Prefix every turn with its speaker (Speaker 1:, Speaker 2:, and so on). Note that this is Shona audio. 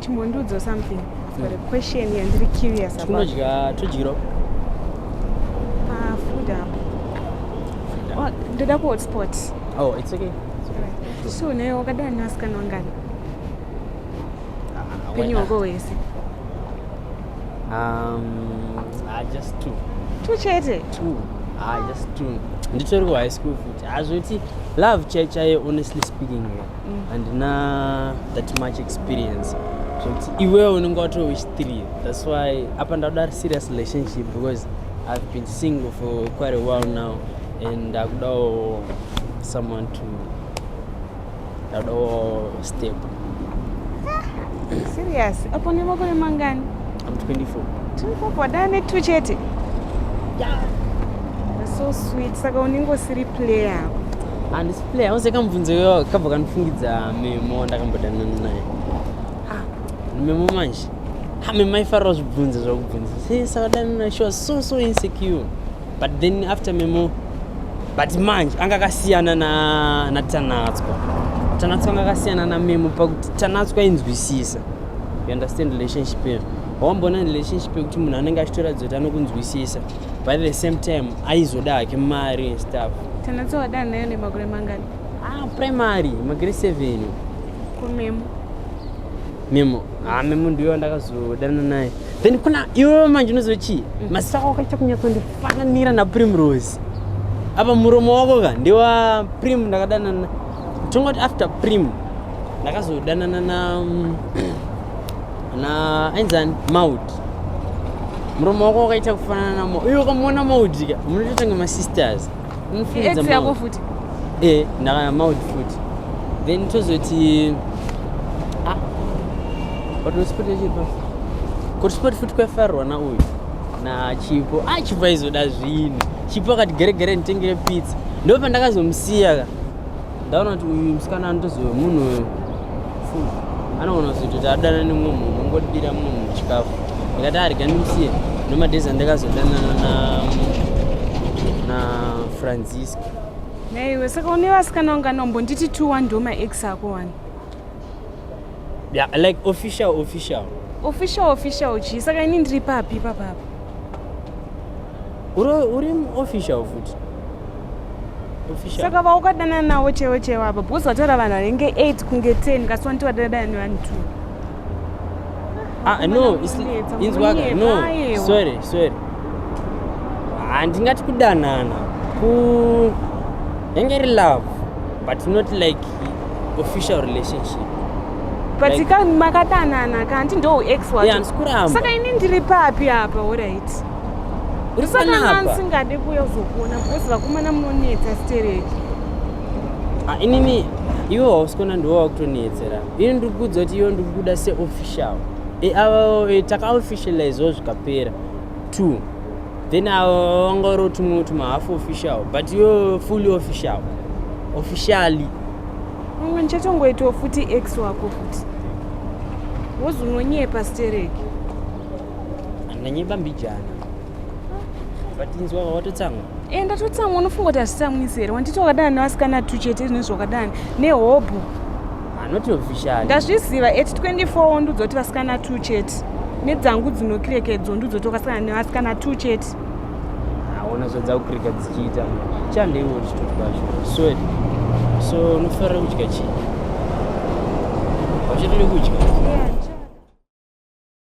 Speaker 1: Chimbondiudza something. I've got a hmm. question yandiri curious about. Tunodya tudyiro. Ah, food apo. Oh, ndoda ku hotspot. Oh, it's okay. So naye wakadana nasikana wangani? Ah, Penyu wako wese. Um, ah, just two. Two chete? Two. Ah, just two. Nditori ku high school futi. Hazvoti love chaichaye honestly speaking. Yeah. mm. handina mm. that much experience zvekuti iwewe unenge watowish three thats why apa ndakuda serious relationship because i've been single for quite a while now and ndakudawo someone to ndakudawo step serious apo nemakore mangani i'm 24 24 wadaa netu chete yeah. so sweet saka unenge usiri player le hauze kamubvunzo iyoyo kabva kanofungidza memo ndakambodanana naye Ah, memo manje ha memo aifarira zvibvunzo zvakubvunza se sakadanana naye she was so so insecure but then after memo but manje anga akasiyana na natanatswa tanatswa anga akasiyana na memo pakuti tanatswa inzwisisa you understand relationship yedu wamboona relationship yekuti munhu anenge achitoratidza kuti anokunzwisisa by the same time aizoda hake mari and stuff Tanatsa wadanha nayo nemakore mangani? Ah, primary, magere 7. Kumemo. Memo. Ah, memo ndiyo ndakazodana naye. Then kuna iwe manje unoziva chii? Mm. Mazita ako akaita kunyatsandifananira naPrimrose. Apa muromo wako ka ndiwa Prim ndakadanana. Tongoti after Prim ndakazodanana na mm, na ainzani maudi murume wako wakaita kufanana na maudi uyo ukamuona maudi ka munotoita kunge masisters munofunidza yako futi e ndakana maudi futi then tozoti ah, watosipoti chipa kotisipoti futi kwafarwa na uyu na chipo ah chipo aizoda zvinhu chipo akati gere gere nditengere pizza ndopandakazomusiya ka ndaona kuti uyu musikana anotozove munhu uyu full anoona kuti tadana nemumwe munhu ungodira munhu chikafu ndikati arega ndimusiye nemadhezi andakazodanana na na francisca naiwe saka une vasikana wanga nombonditi two one ndo maex ako one yeah, like official official official official chii saka ini ndiri papi papapa uri official futi saka vaukadana nawo chewo chewo apa because wataura vanhu vanenge 8 kunge 10 kasi wanti wadadana nevanhu two ah, no inzwaka no sorry sorry handingati kudanana ku yange iri love but not like official relationship but like, ka makadanana kanti ndo uex wacho yeah, saka ini ndiri papi apa orit urisanaaasingade kuuya uzokuona because vakomana munonetsa stereki ah, inini iwe wausikona ndiwo wakutonetsera ini ndiri kuudza kuti iwe ndiri kuda seofficial e, avo e, takaofficializewo zvikapera two then avo vanga uri tumwe tuma half official but iwe fully official officially mwe ndichatongoitawo futi ex wako futi wozunonyepa stereki ndanyeba mbijana but inzwa watotsamwa e eh, ndatotsamwa unofunga kuti hazvitsamwisi here wanditi wakadana nevasikana tu chete izvine zvakadani nehobho anoti official ndazviziva at 24 wondiudza kuti vasikana tu chete nedzangu dzinokirekedzo ndiudza kuti wakasangana nevasikana tu chete aona zvadzakukireka dzichiita chandeiwo richitoti kwacho so so unofarira kudya chii wachatode kudya yeah.